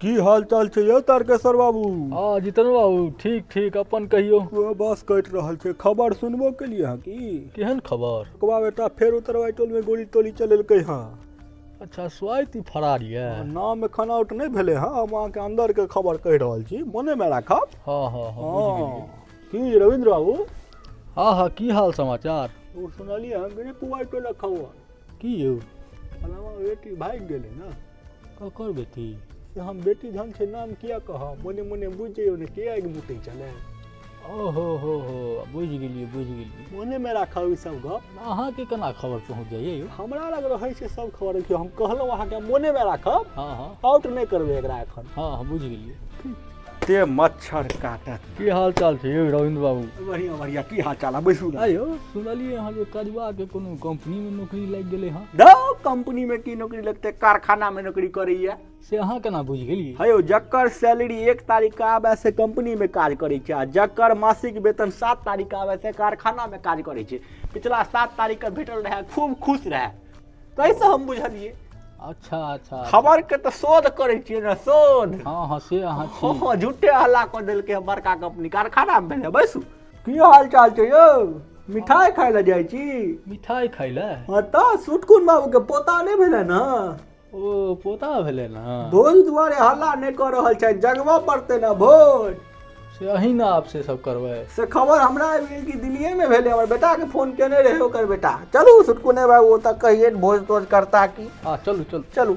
की हाल चाल छै यौ तारकेश्वर बाबू हँ जितन बाबू ठीक ठीक अपन कहियौ ओ बस कटि रहल छै खबर सुनबो केलिए हँ की केहन खबर कबा बेटा फेर उतरवाई टोल में गोली टोली चलेलकै हँ अच्छा स्वाति ई फरार यऽ नाम एखन आउट नहि भेलै हँ हम अहाँके अंदर के खबर कहि रहल छी मोने मे राखब हँ हँ हँ बुझि हँ गेलियै। की रविंद्र बाबू हँ हँ की हाल समाचार ओ सुनलिए हँ कि पुआई टोला खबर की यौ फलामा बेटी भागि गेलै ने ककर बेटी से हम बेटी धन छै नाम किया कहब मोने मोने बुझि जइयौ ने के आगि मुतै छलै ओहो हो हो बुझि गेलियै बुझि गेलियै मोनेमे राखब ई सब गप अहाँके केना खबर पहुँच जाइए यौ हमरा लग रहै छै सब खबर कि हम कहलहुँ अहाँके मोनेमे राखब हँ हँ आउट नहि करबै एकरा एखन हँ हँ बुझि गेलियै ते मच्छर काटत की हाल चाल छै यौ रविन्द्र बाबू बढ़िया बढ़िया की हाल चाल है बैसू ना आयो सुनलिए अहाँ जे कदवा के कोनो कंपनी में नौकरी लागि गेलै हँ दो कंपनी में की नौकरी लगते कारखाना में नौकरी करैया से अहाँ केना बुझि गेलिए है यौ जकर सैलरी एक तारीख के आबे से कंपनी में काज करे छै आ जकर मासिक वेतन सात तारीख के आबे से कारखाना में काज करे छै पिछला सात तारीख के भेटल रहे खूब खुश रहे कैसे हम बुझलियै अच्छा अच्छा खबर के तऽ शोध करै छियै ने शोध हँ हँ से अहाँ छी हँ, झूठे हल्ला कऽ देलकै हम बड़का कंपनी कारखाना मे भेलै बैसू की हाल चाल छै यौ मिठाई खाय लए जाइ छी मिठाई खाय ले हँ तऽ सुटकुन बाबू के पोता नहि भेलै ने ओ पोता भेलै ने भोज दुआरे हल्ला नहि कऽ रहल छै जगबऽ पड़तै ने भोज से अहिना आब से सब करबै से खबर हमरा आबि गेल कि दिल्लीएमे भेलै हमर बेटाके फोन केने रहै ओकर बेटा चलू सुटकू नहि बाबू ओतऽ कहिए भोज तोज करता की हँ चलू चलू चलू